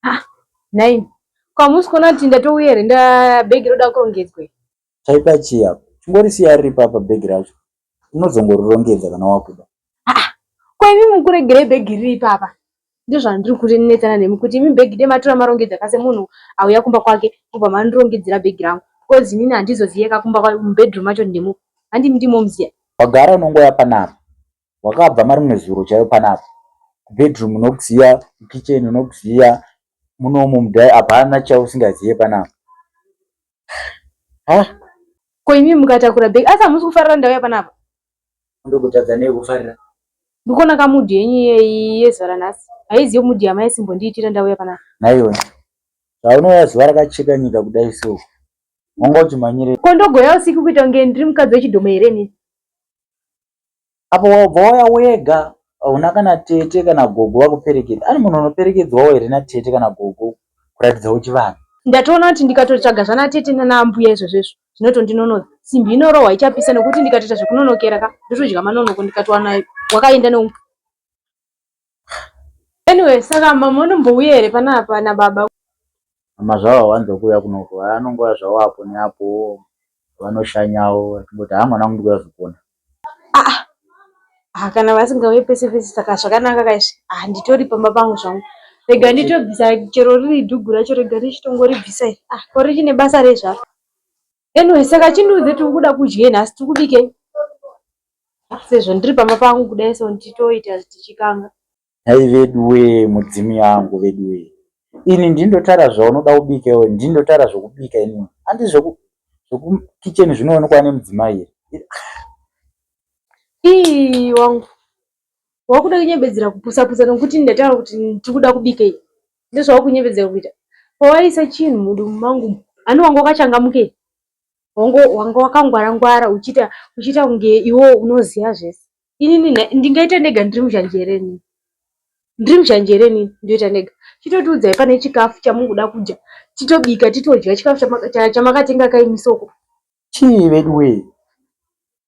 ah, nhaimi ko hamusi kuona kuti ndatouya here ndabhegi roda kurongedzwa chaipa chii apo chingorisiya riri papa bhegi racho unozongorirongedza kana wakuda ah, ko imi mukuregerei bhegi riri ipapa ndozvandiri kurinetsana nemi kuti imi bhegi de matora marongedza kase munhu auya kumba kwake kubva mandirongedzera bhegi rangu bcause inini handizoziyeka kumba mubedroom macho ndimo handimi ndimo muziya wagara unongoya panapa wakabva marimwe zuro chaiyo panapa kubedroom unokuziva kukitchen unokuziva munomu mudhai hapana chausingazive panapa ha ko imi mukatakura bhegi asi hamusi kufarira ndauya panapa ndokutadza nei kufarira ndikuona kamudhi yenyu iyeyi yezuva ranhasi haizive mudhi yamaisimbondiitira ndauya panapa naiwe zvaunouya zuva rakacheka nyika kudai so wanga uchimhanyirei ko ndogoya usiku kuita kunge ndiri mukadzi wechidhoma here nini apo wabva wauya wega hauna kana tete kana gogo vakuperekedza ani munhu unoperekedzwawo here natete kana gogo kuratidza uchivanhu ndatoona kuti ndikatotsvaga zvana tete nanaambuya izvozvo izvo zvinotondinonoza simbi inorohwa ichapisa nokuti ndikatoita zvekunonokera ka ndotodya manonoko ndikatowana wakaenda ne Anyway, saka mama unombouya here panapa nababa? Mama zvavo hawanzo kuuya kunoko, vanongouya zvavo apo neapo vanoshanyawo vachingoti haa mwana wangu ndikuuya zvekuona. Ah, ah, kana vasingauye pese pese saka zvakanaka kaizvi. Ah, nditori pamba pangu zvangu. Rega nditobvisa chero riri dhugu racho rega ndichitongoribvisa iri. Ah, ko richine basa rei zvaro? Anyway, saka chindiudze tiri kuda kudyei nhasi tiri kubikei? Sezvo ndiri pamba pangu kudai so nditoita tichikanga. Nhai veduwe mudzimu yangu veduwe. Ini ndindotara zvaunoda kubika iwe ndindotara zvokubika ini. Andi zvoku zvoku kitchen zvinoonekwa nemudzimai here? Ii wangu. wakuda kunyebedzera kupusa pusa nokuti ndataura kuti tikuda kubikei ndozvawakunyebedzera kuita pawaisa chinhu mudumbu mangu ani wanga wakachangamukei wanga wakangwara ngwara uchiita uchiita kunge iwo unoziva zvese inini ndingaita ndega ndiri muzhanjereni ndiri muzhanjereni ndoita ndega chitotiudzai pane chikafu chamukuda kudya titobika titodya chikafu chamakatenga kaimisoko chii veduwee